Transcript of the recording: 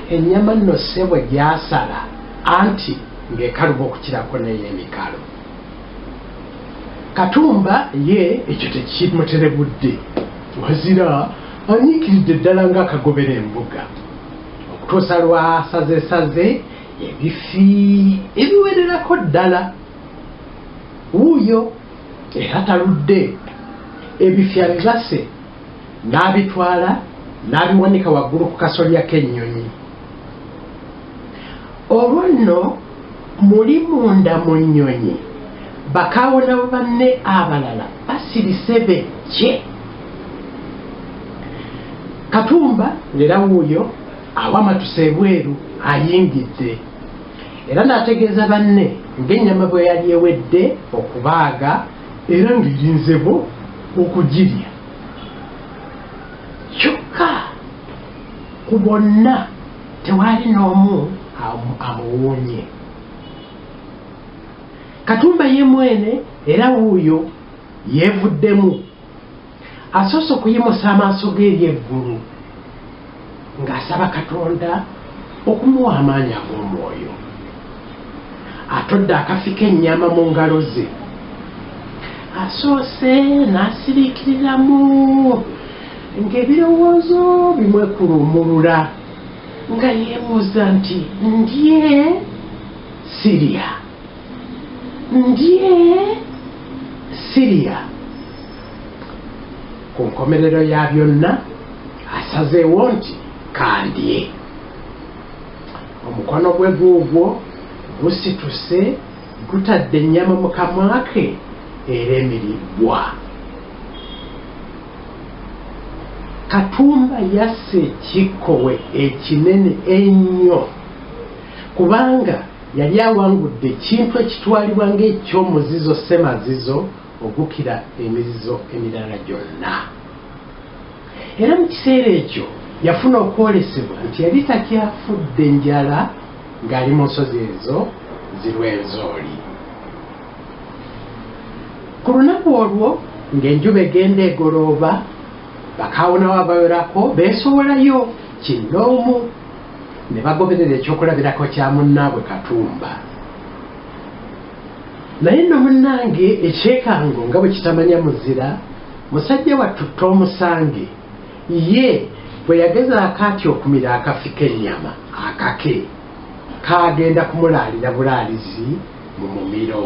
ennyama nno ssebo gyasala anti ng'ekaluba okukirako naye emikalo katumba ye ekyo tekimuterebudde wazira anyiikiridde ddala ng'akagobera embuga okutuusa lwasazesaze ebifi ebiwererako ddala wuuyo era taludde ebifya bibase n'abitwala n'abiwanika waggulu ku kasolya k'ennyonyi olwo nno muli munda mu nnyonyi bakawona banne abalala basirise bejje katumba ngera wuuyo awamatuse ebweru ayingidde era n'ategeeza banne ng'ennyama bwe yali ewedde okubaaga era ng'erinzebo okugirya kyokka ku bonna tewaali n'omu amuwuunye katumba ye mwene era wuuyo yeevuddemu Asoose okuyimusa amaaso ge eri eggulu ng'asaba Katonda okumuwa amaanyi ag'omwoyo. Atodde akafi k'ennyama mu ngalo ze. Asoose n'asiriikiriramu ng'ebirowoozo bimwekuluumulula nga yeebuuza nti, Ndye? Sirya? ndye siriya ku nkomerero ya byonna asazeewo nti kandye omukono gwe guugwo gusituse gutadde ennyama mu kamwa ke era emiribbwa katumba yassa ekikkowe ekinene ennyo kubanga Yali awangudde ekintu ekitwalibwa ng'eky'omuzizo ssemazizo ogukira emizizo emirala gyonna. Era mu kiseera ekyo yafuna okwolesebwa nti yali takyafudde njala ng'ali mu nsozi ezo zirwenzooli. Ku lunaku olwo ng'enjuba egenda egolooba, bakaawonawo abawerako beesowolayo kinnoomu. ne bagoberera ekyokulabirako kya munnaabwe katumba naye nno munnange ekyekango nga bwe kitamanya muzira musajja wattutta omusange ye bwe yagezaako atya okumira akafi k'ennyama akake kaagenda kumulaalira bulaalizi mu mumiro